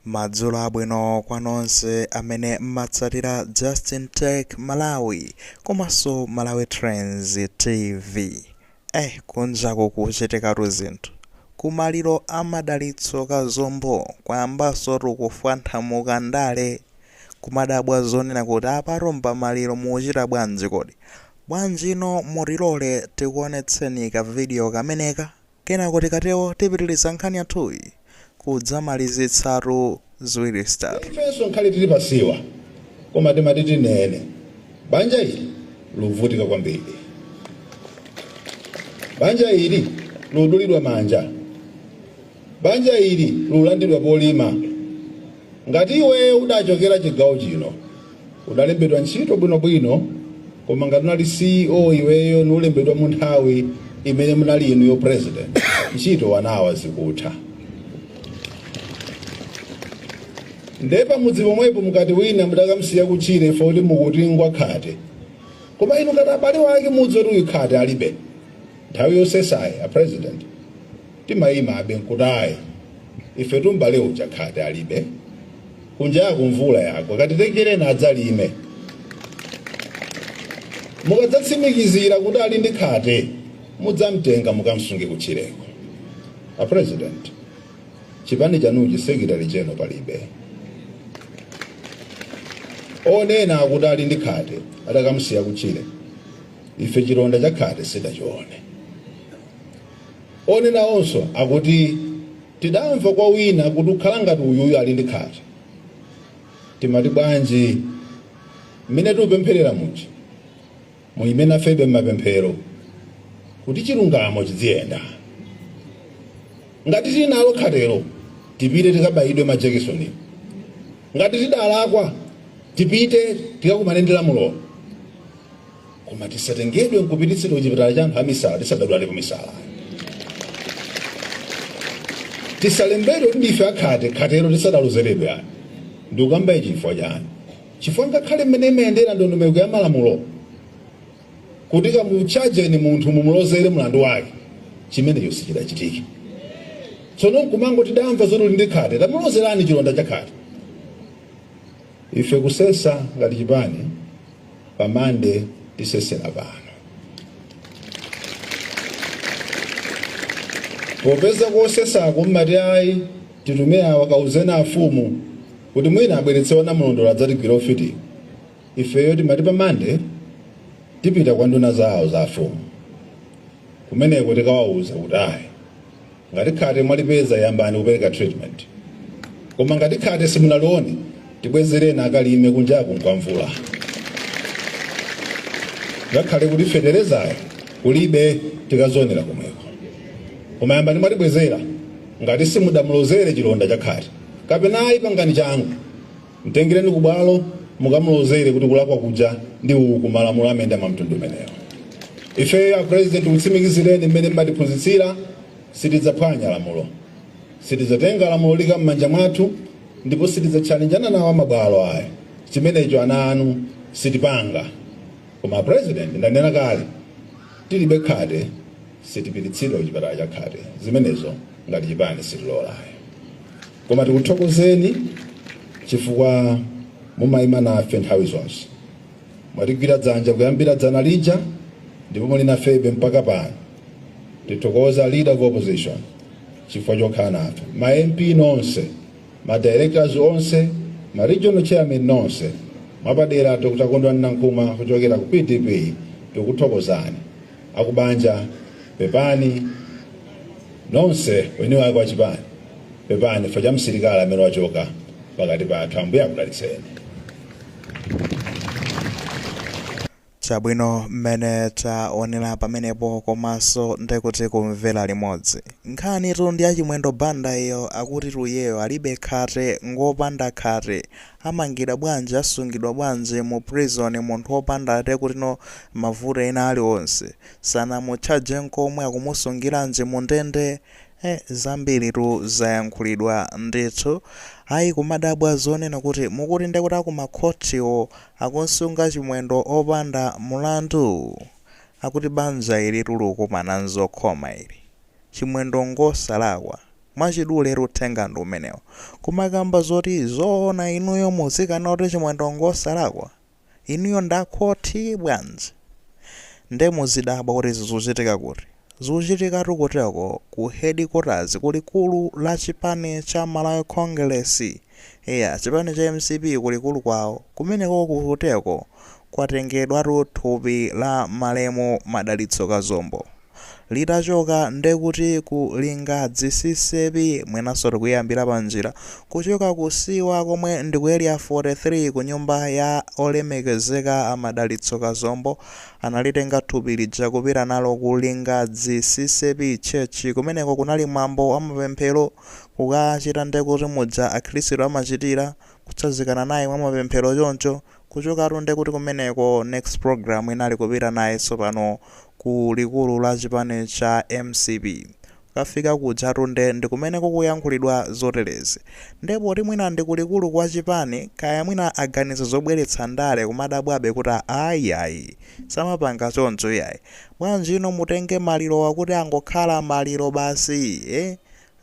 Madzulo abwino kwa nonse amene mmatsatira Justin Tech Malawi komanso Malawi Trends TV. Eh kunja ku kuchitikatu zinthu. Ku maliro a Madalitso Kazombo kwayambansotu kufwanthamuka ndale. Kumadabwa zonena kuti apatu mpamaliro mukuchita bwanji kodi? Bwanjino mutilole tikuonetseni ka video kameneka? Kenako tikatero tipitiliza nkhani yathuyi kudzamalizitsatu ziwiri zitatu. Ifenso nkhale tili pasiwa koma timati tinene banja ili luvutika kwambiri. Banja ili ludulidwa manja. Banja ili lulandidwa polima. Ngati iweyo udachokera chigawo chino. Udalembedwa ntchito bwino bwino koma ngati unali CEO iweyo nulembedwa munthawi imene munali inuyo president ntchito wanawa zikutha nde pamudzi pomwepo mukati wina mudakamusiya kutchire ife kuti mukuti ngwakhate koma inu ngati abale wake mudzi oti uyu khate alibe nthawi yosesayi a president timayima abe nkutayi ife tumbale uja khate alibe Kunjaku mvula yagwa, katitengereni adzalime. Mukadzatsimikizira kuti ali ndi khate, mudzamtenga mukamsunge kutchireko. A President, chipani chanuchi Secretary General palibe. Onena akuti ali ndi khate atakamsiya kutchire, ife chilonda cha khate sidachione. Onena onso akuti Tidamva kwa wina kuti ukhala ngati uyuyu ali ndi khate. Timati bwanji? Mmene tikupempherera muja, muime nafebe mmapemphero kuti chilungamo chidziyenda. Ngati tili nalo khatelo, tipite tikabayidwe majekisoni. Ngati tidalakwa, tipite tikakumane ndi lamulo. koma tisatengedwe nkupititsidwa kuchipatala cha anthu amisala tisadadwalepo misala tisalembedwe kuti ndife akhate khatero tisadalozeredwe ani ndikukambaye chifukwa chani chifukwa ngakhale mmene imayendera ndondomeko ya malamulo kuti kamuchajeni munthu mumulozere mlandu wake chimenecho sichidachitike tsono nkumango tidamva zoti uli ndi khate tamulozerani chilonda cha khate ife kusesa ngati chipani pa mande tisesera pano popeza kosesako mmati ayi titume awa kauzeni afumu kuti mwina abweretse a namulondola adzatigwire ufiti ifeyo timati pa mande tipita kwa nduna zawo za afumu kumeneko tikawawuza kuti ayi Ngati khate mwalipeza yambani kupereka treatment. Koma ngati khate simunalione tibwezereni akalime kunjaku nkwamvula. Ngakhale kuti feterezayo kulibe tikazionera komweko. Koma yambani mwatibwezera ngati simudamulozere chilonda cha khate. Kapena ayi pangani changu. Mtengereni ku bwalo mukamulozere kuti kulakwa kuja ndi uku, malamulo amayenda mwa mtundu umenewo. Ifeyo a President tikutsimikizireni mmene mmatiphunzitsira, sitidzaphwanya lamulo, sitidzatenga lamulo kuika mmanja mwathu ndipo sitidzatchalenja nawo a mabwalo aya, chimenecho ana anu sitipanga. Koma a President ndanena kale, tilibe khate, sitipititsidwa ku chipatala cha khate, zimenezo ngati chipani sitilola ayi. koma tikuthokozeni chifukwa mumayima nafe nthawi zonse mwatigwira dzanja kuyambira dzana lija ndipo muli nafebe mpaka pano tithokoza leader of opposition chifukwa chokhala nafe ma mp nonse ma directors onse ma regional chairman nonse mwapadera dr kondwani nankhumwa kuchokera ku pdp tikuthokozani akubanja pepani nonse eni wake wa chipani pepani chifukwa cha msilikali amene wachoka pakati pathu ambuye akudalitseni chabwino mmene taonera pamenepo komanso ndikuti kumvera limodzi nkhani tu ndi yachimwendo banda iyo akutitu iyeyo alibe khate ngopanda khate Amangidwa bwanji asungidwa bwanji mu prison munthu opanda ati kutino mavuto ena aliwonse sanamutchaje nkomwe akumusungiranji mu ndende eh zambiri tu zayankhulidwa ndithu ayi kumadabwa zonena kuti mukuti nde kuti aku ma court wo akumsunga chimwendo opanda mulandu akuti banja ilitu likukumana nzokhoma ili chimwendo ngosalakwa Mwachidule tu uthenga ndi umenewo. Kumakamba zoti zoona inuyo muzikana kuti Chimwendo ngosalakwa? Inuyo ndi a khothi bwanji? Nde muzidabwa kuti zikuchitika kuti? Zikuchitikatu kuteko ku headquarters ku likulu la chipani cha Malawi Congress. Eya chipani cha mcp ku likulu kwawo kumenekoko kuteko kwatengedwatu thupi la malemu Madalitso Kazombo. litachoka ndekuti ku lingadzi ccap mwinanso tikuyambira pa njira kuchoka ku siwa komwe ndi ku area 43 ku nyumba ya olemekezeka a madalitso kazombo analitenga thupi lija kupita nalo ku lingadzi ccap church kumeneko kunali mwambo wa mapemphero kukachita ndekuti muja akhilisitu amachitira kutsazikana naye mwa mapemphero choncho Kuchokatu nde kuti kumeneko next program inali kupita naye tsopano ku likulu la chipani cha mcp. Kukafika kujatu nde ndikumene kukuyankhulidwa zoterezi. Nde poti mwina ndi ku likulu kwa chipani, kaya mwina aganiza zobweretsa ndale kumadabwabe kuti aa iyayi. Samapanga choncho iyayi. Bwanji no mutenge malirowa kuti angokhala maliro basi? Eeh?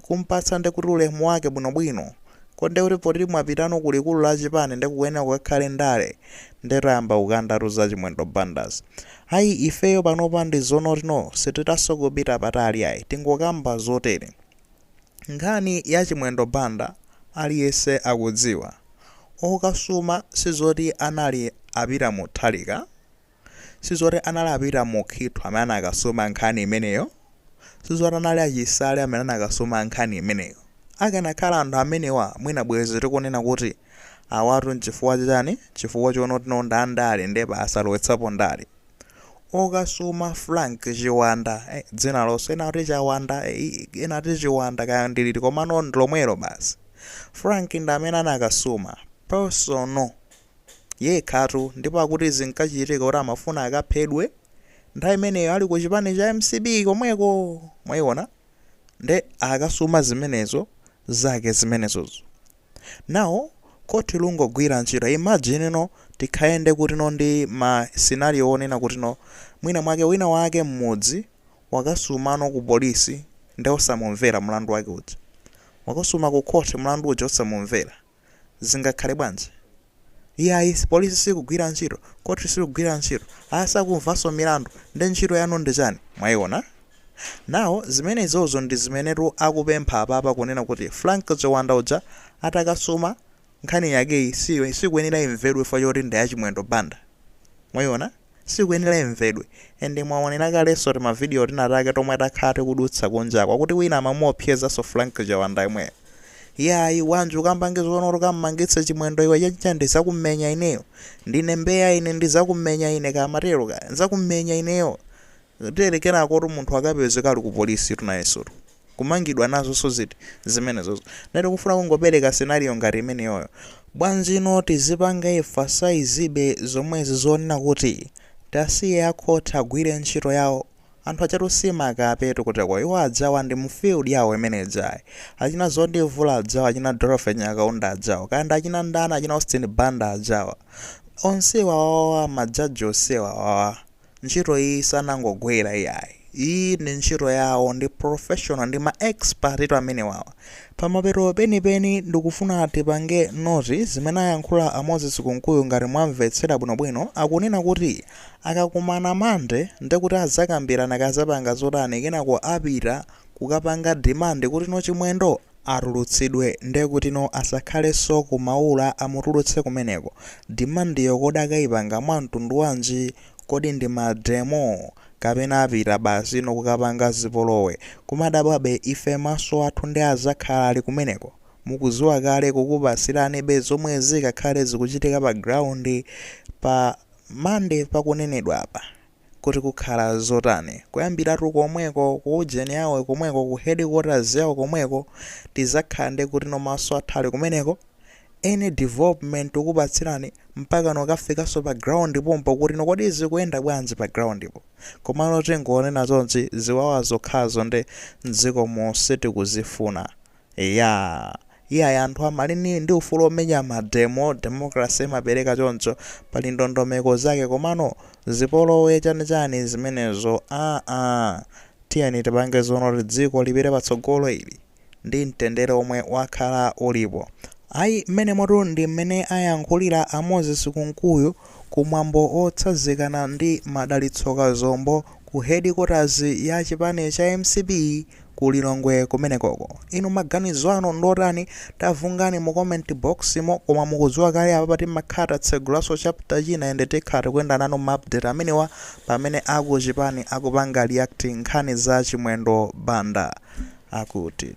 kumpatsa nde kuti ulemu wake bwino bwino kodi nde kuti poti mwapitano ku likulu la chipani nde kukuyenera kukakhale ndale nde tayamba kukandatu za chimwendo bandazi ayi ifeyo panopa ndi zonoti no sititanso kupita patali ayi tingokamba zotere nkhani ya chimwendo banda aliyense akudziwa okasuma sizoti anali a peter mutharika sizoti anali a Peter Mukhitho amene anakasuma nkhani imeneyo, sizoti anali a Chisale amene anakasuma nkhani imeneyo. Akanakhala anthu amenewa mwina bwezi tikunena kuti awatu nchifukwa chani? Chifukwa chonotino ndi andale nde basi alowetsapo ndale. Okasuma Frank Chiwanda, eh, dzina lonse ena kuti Chawanda, eh, ena kuti Chiwanda kaya ndi liti komano ndi lomwelo basi. Frank ndi amene anakasuma personal yekhatu ndipo akuti zinkachitika kuti amafuna akaphedwe nthawi imeneyo ali ku chipani cha mcp komweko mwayiona nde akasuma zimenezo zake zimenezozo now khoti lungogwira ntchito imagine no tikayende kutino ndi ma scenario onena kutino mwina mwake wina wake mmudzi wakasumano ku polisi nde osamumvera mlandu wake uja wakasuma ku khoti mlandu uja osamumvera Zingakhale bwanji? Iyayi, polisi sikugwira ntchito, khoti silikugwira ntchito, a, sakumvanso milandu, nde ntchito yanu ndi chani? Mwayiona? Now, zimenezozo ndi zimenetu akupempha apapa kunena kuti Frank Chiwanda uja atakasuma, nkhani yakeyi si, sikuyenera imvedwe chifukwa choti ndi ya Chimwendo Banda. Mwayiona? sikuyenera imvedwe and mwaonera kalenso tima video tina take tomwe takhala tikudutsa kunjako akuti wina amamuopsezanso Frank Chawanda yemweyo iyayi bwanji ukapange zoona kuti ukamumangitse chimwendo iwe chachicha ndizakumenya ineyo ndine mbeya ine ndizakumenya ine kamatero kaya nzakumenya ineyo Tere kenako munthu akapezeka ali ku police tu nayenso tu kumangidwa nazonso ziti zimenezozo. Ndiye tikufuna kungopereka scenario ngati imeneyoyo. Bwanji no tizipanga emphasize be zomwezi zonena kuti tasiye a court agwire ntchito yawo. Anthu ajatu si makapetu kuteko. Iwo adzawa ndi mu field yawo imene ijayi. Achina Zondi Vula adzawa, achina Dorothy Nyakaunda adzawa, kaya ndi achina ndani, achina Austin Banda adzawa. Onsewa awawa ma judge onsewa awawa. Ntchito iyi sanangogwera iyayi. Iyi ndi ntchito yawo ndi professional ndi ma expert tu amenewawa. Pamapeto penipeni ndikufuna tipange note zimene ayankhula a Moses Kunkuyu ngati mwamvetsera bwinobwino akunena kuti akakumana Monday ndekuti azakambirana kazapanga zotani kenako apita kukapanga demand kuti no Chimwendo Atulutsidwe ndekutino asakhaleso ku Maula amutulutse kumeneko. Demandiyo kodi akaipanga mwa mtundu wanji? Kodi ndi ma demo? Kapena apita basi no kukapanga zipolowe. Koma adabwabe ife maso athu nde azakhala ali kumeneko? Mukuziwa kale tikupasiranibe zomwe zikakhale zikuchitika pa ground pa Monday pakunenedwapa. Kuti kukhala zotani? Kuyambiratu komweko ku ujeni yawo komweko ku headquarters yawo komweko tizakhala ndi kutino maso athu ali kumeneko, any development tukupatsirani mpakana kukafikaso pa ground pompo kutino kodi zikuyenda bwanji pa ground po. Komano tingonena chonchi ziwawa zokhazo nde mdzikomu sitikuzifuna. Eya. Iyayi anthu amali ndi ufulu omenya ma demo, democracy imapereka choncho. Pali ndondomeko zake komano zipolowe chani chani zimenezo aa. Tiyeni tipange zoona kuti dziko lipite patsogolo ili ndi mtendere omwe wakhala ulipo. Ayi mmenemotu ndi mmene ayankhulira a Moses Kunkuyu ku mwambo otsazikana ndi Madalitso Kazombo ku headquarters ya chipani cha MCP ku Lilongwe kumenekoko. Inu maganizo anu ndiotani? Tavunani mu comment box mo, koma mukudziwa kale apapa timakhala tatsegulanso chapter china and tikhala tikuyenda nanu ma update amenewa pamene akuchipani akupanga react nkhani za Chimwendo Banda akuti.